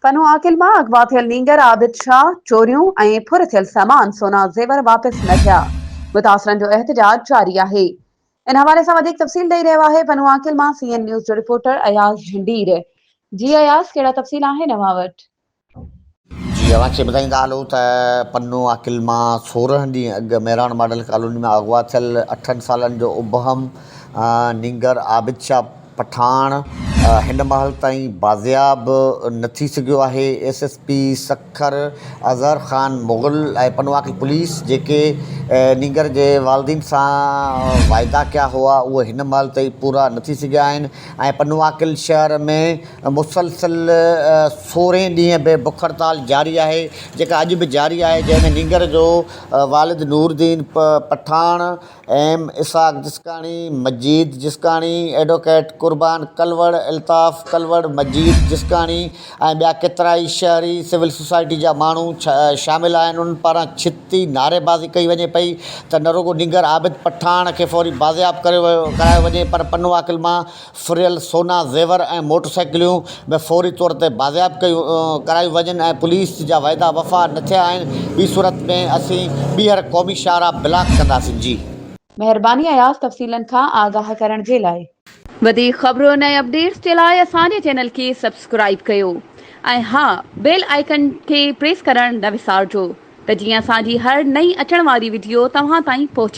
ڪنو عاقل مان اغوا ٿيل نينگر عابد شاهه، چوريون ۽ ڦر ٿيل سامان سونا زيور واپس نه ٿيا، متاثرن جو احتجاج جاري آهي. ان حوالي سان وڌيڪ تفصيل ڏئي رهيو آهي پنو عاقل مان سي اين نيوز جو رپورٽر اياز جهنڊير. جي اياز ڪهڙا تفصيل آهن اوهان وٽ؟ جي اوهان کي ٻڌائيندا هلون ته پنو عاقل مان سورهن ڏينهن اڳ مهراڻ ماڊل ڪالوني مان اغوا ٿيل اٺن سالن جو ابهم نينگر عابد شاهه، پٺاڻ هن مهل تائين بازياب نه ٿي سگهيو آهي، S S P Sukkur Azhar Khan Mughal ۽ پنواڪي پوليس جيڪي نينگر جي والدين سان واعدا ڪيا هئا اهي هن مهل تائين پورا نه ٿي سگهيا آهن ۽ پنواڪل شهر ۾ مسلسل سورهين ڏينهن به بک هڙتال جاري آهي جيڪا اڄ به جاري آهي جنهن ۾ نينگر جو والد نورالدين پٺاڻ ايم اسحاق جسڪاڻي، مجيد جسڪاڻي، ايڊووڪيٽ قربان ڪلوڙ، الطاف ڪلوڙ، مجيد جسڪاڻي ۽ ٻيا ڪيترائي شهري سول سوسائٽي جا ماڻهو شامل آهن انهن پاران ڇتي نعريبازي ڪئي وڃي پئي ته نه رڳو نينگر عابد پٺاڻ کي فوري بازياب ڪرايو وڃي پر پنو عاقل مان ڦريل سونا زيور ۽ موٽر سائيڪليون به فوري طور تي بازياب ڪيون ڪرايون وڃن ۽ پوليس جا وعدا وفا نه ٿيا آهن ٻي صورت ۾ اسين ٻيهر قومي شاهراهه بلاڪ ڪنداسين جي. مهرباني اياز تفصيلن کان آگاهه ڪرڻ جي لاء. وڌيڪ خبرن ۽ اپڊيٽس جي لاء اسان جي چينل کي سبسڪرائيب ڪيو ۽ ها بيل آئيڪن کي پريس ڪرڻ نه وسارجو ته جيئن اسان جي هر نئين اچڻ واري وڊيو توهان تائين پهچي.